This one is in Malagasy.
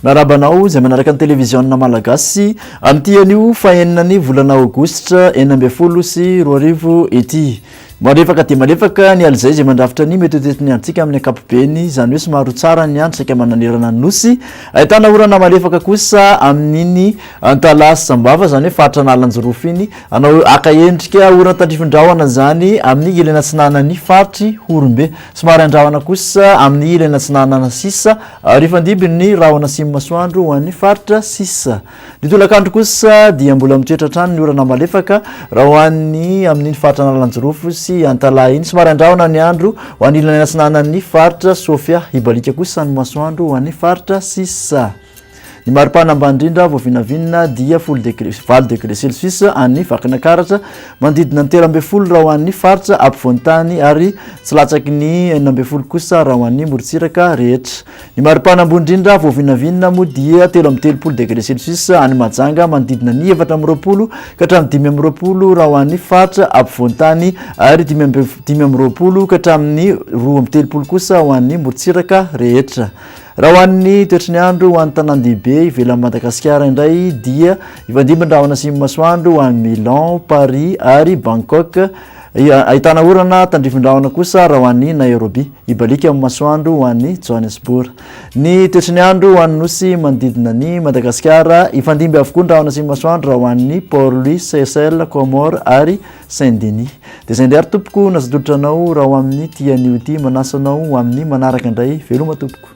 Miarahaba anao izay manaraka ny televiziona malagasy amin'ity anio fahenina ny volana aogositra enina ambin'ny folo sy roa arivo ity. Malefaka dia malefaka ny alizay izay mandrafitra ny mietoetoeton'ny androntsika amin'ny ankapobeny, izany hoe somary ho tsara ny andro saika mananerana ny Nosy, ahitana orana malefaka kosa amin'iny Antalaha sy Sambava, izany hoe faritra Analanjirofo iny, hanao haka endrika horan-tandrifin-drahona izany amin'ny ilany atsinanan'ny faritry Horombe. Somary handrahona kosa amin'ny ilany atsinanana sisa ary hifandimby ny rahona atsimon'ny masoandro ho an'ny faritra sisa. Ny tolakandro kosa dia mbola mitoetra hatrany ny orana malefaka raha ho an'ny amin'iny faritra Analanjirofo sy Antalaha iny. Somary andrahona ny andro ho an'ny ilany atsinanan'ny faritra Sofia. Hibaliaka kosa ny masoandro ho an'ny faritra sisa. Ny maripana ambany indrindra voavinavinina dia folo degré, valo degré celsius any Vakinakaratra, manodidina ny telo ambin'ny folo raha ho an'ny faritra apovoan-tany ary tsy latsaky ny enina ambin'ny folo kosa raha ho an'ny morontsiraka rehetra. Ny maripana ambony indrindra vao vinavinina moa dia telo amby telopolo degre celsius any Mahajanga manodidina ny efatra amby roapolo ka hatramin'ny dimy amby roapolo raha ho any faritra apovoan-tany ary dimy amby dimy amby roapolo ka hatramin'ny roa amby telopolo kosa ho an'ny morontsiraka rehetra. Raha ho an'ny toetry ny andro ho an'ny tanàn-dehibe ivelan'i Madagasikara indray dia hifandimby ny rahona asimo-masoandro ho an'i Milan, Paris ary Bangkok. Ahitana orana tandrifin-drahona kosa raha ho an'i Nairobi, hibaliaka amin'ny masoandro ho an'i Johannesburg. Ny toetry ny andro ho an'ny nosy manodidina an'i Madagasikara, hifandimby avokoa ny rahona sy ny masoandro raha ho an'ny Port Louis, Seychelles, Comores ary Saint Denis. Dia izay indray ary tompoko no azo atolotra anao raha ho amin'ity anio ity, manasa anao ho amin'ny manaraka indray. Veloma tompoko.